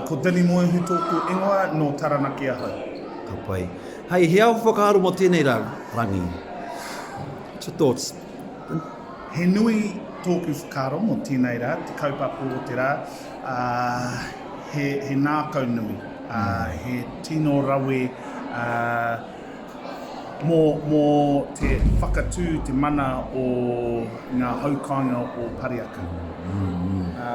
Ko Danny Moehu tōku ingoa, nō Taranaki ahau. Ka pai. Hei, he ao whakaaro mō tēnei rā, rangi? What's your thoughts? He nui tōku whakaaro mō tēnei rā, te kaupapa o te rā, ā, he, he ngākau nui, ā, he tino rawe, ā, mō, mō te whakatū, te mana o ngā haukāinga o Pareaka. Ā,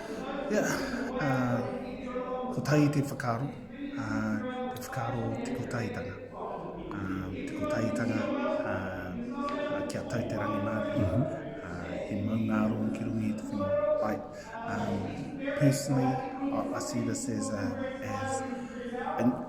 Ia, ā, kotahi te whakaaro, ā, te whakaaro o te kotahitanga. Ā, te kotahitanga, ā, ā, kia tau te rangimārie, ā, he maungārongo ki runga i te whenua. Like, ā, personally, I, I see this as a, as an,